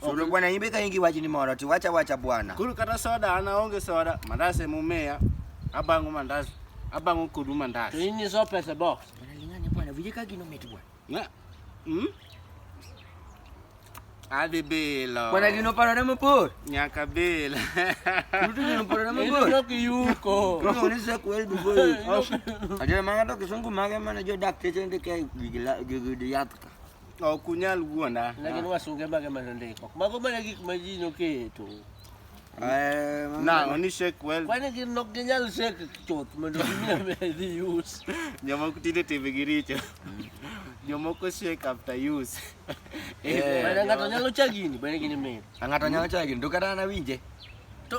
Solo bwana imbe ka ingi wachni moro to wacha wacha bwana. Kuru kata soda ana onge soda, mandas ema umeya. Abango mandas, abango kodu mandas. To in iso pesa box. Bwana lingane bwana, vije ka gino mit bwana. Na. Hmm? Adhi bilo. Bwana gino paro na mapor. Nyaka bilo. Ruto gino paro na mapor. Ino ki yuko. Kama unisa kweli dugo. Ajira manga to kisungu mage mana jo dak teche ndike gigila gigidi yatka. Ok unyal wuonda. Ne gin wasunge mage ma nondiko. Mago mana gik ma ji noketo. Eh, ma- Nang'o ni shake well. Kwani gin nok ginyal sek chuth mondo gimi dhi us. Jomoko tinde timbegi richo. Jomoko shake after use. Eh. Mana ng'ato nyalo cha gini, bende gini mit. Ng'ato nyalo chagi, to kata an awinje. To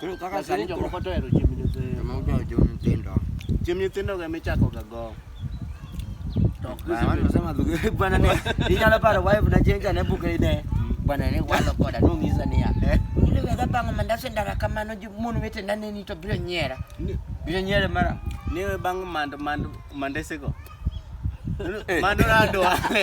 Koro kaka Lakini sani jomoko koro to ohero chiemb nyithindo. joma ojawo jo nyithindo. Chiemb nyithindo ga michako ga go. To ok Bana watu gisebed- wasema dhugu bwana ne inyalo paro wife na chenja ne buke ide. Bwana ne walo koda nong'isa niya. Ungile wega bang'o mandas e ndara kamano ji- mon wetena neni to biro nyiera. Ni- Biro nyiere mara. Niwe bang' mand mand mandesego. Mando nadwale.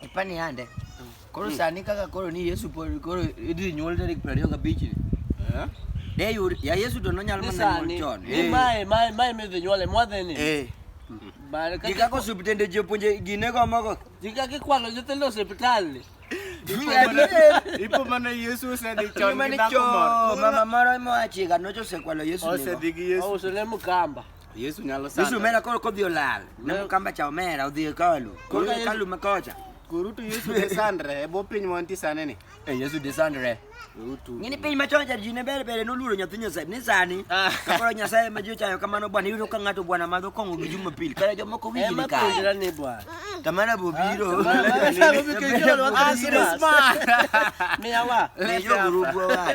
ipani yande koro hmm. sani kaka koro ni Yesu koro idhi nyuol tarik 25 gabich eh? de yud ya Yesu to nonyalo mana nyuol chon ni eh. mae mae mae midhi nyuole mwadhe ni eh bale kaka kaka osiptende jopunje gine go mogo jika kikwalo jotelo hospital ni ipo mana Yesu osedhi chon gi dhako moro mama moro moachiga nochosekwalo Yesu osedhi gi Yesu oselemo kamba Yesu nyalo sanda. Yesu mera koro kodhi olal. Ne mkamba cha omera odhi e kalu. Koro e kalu makocha. Koro tu Yesu de sandre e bo piny mo anti sane ni. E Yesu de sandre. Utu. Ngini piny machon cha jine bere bere no luro nyathi nyasaye ni sani. Ah. Kaporo nyasaye ma jicho ayo kamano bwana yudo ka ngato bwana madho kongo gi juma pil. Kare jo moko winji ni ka. Ema pindra ni bwana. Tamara bobiro. Asma. Miyawa. Lejo grupo wa.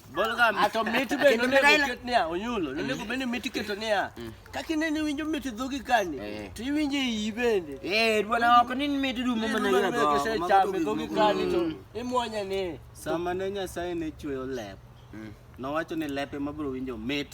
Ato mit be nonego ket niya, onyulo, mm. nonego bende mit iketo niya. Mm. Kaka ineno iwinjo mit dhogi kani, eh. to iwinjo iyi bende. Eh, dwana ok ni mit rumo mana yego. Dwana ok chame dhogi kani to mm. imwonya ni. Sama ne Nyasaye ne chweyo lep, nowacho ni lepe mabiro winjo mit.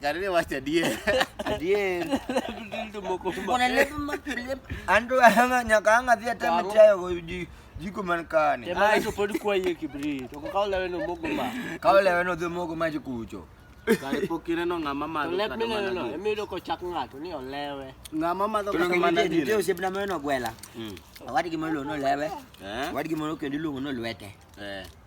Karine wacha die. Adie. Kuna lepo mapele. Andu hanga nyakanga vya tama chayo go ji jiko man kane. Tema hizo podi kwa yeye kibri. Toko kaula weno mogo ma. Kaula weno dho mogo ma jikucho. Karipo kineno ng'ama madho Let me know, no. Emi yudo kochak ng'ato ni olewe. Ng'ama madho Tolo kata ng'ama mana dine. dine. Osebna meno gwela. Mm. Awadi gi molo no lewe. Eh? Awadi gi molo kendo iluongo no lwete. Eh.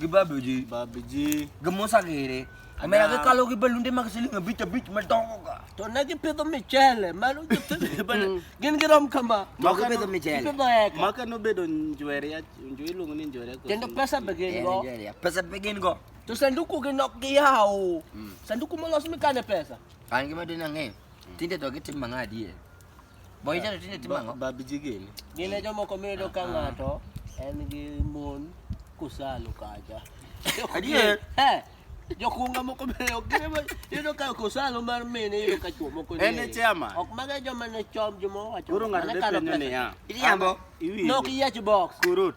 Gibabu ji. Babu ji. Gamosa gere. Amera ke kalo ki balunde mak sili nga bich bich ma dongo ka. To ne gipidho michele, mano gipidho bana. Gin girom kama. Moko pidho michele. Gipidho eka. Maka nobedo njwere ya njwere iluongo ni njwere ko. Kendo pesa be gin go. Nigeria. Pesa be gin go. To sanduku gi nok giyawo. Sanduku molos mikane pesa. An gima dine ang'eyo. Tinde to gitim mang'a adier. Boy jalo tinde timo ang'o? Babji gini. Gine jomoko miyudo ka ng'ato en gi mon kusalo kacha. Adier. Eh, Jokunga moko bende ok gine ma- yudo ka kusalo mar mine yudo ka chuo moko En e chairman. Ok maga joma ne chom joma owacho. Koro ng'ato mane ne kalo penjo pesa. niya. Iriambo. Iwinjo. Nok yiech box. Kurut.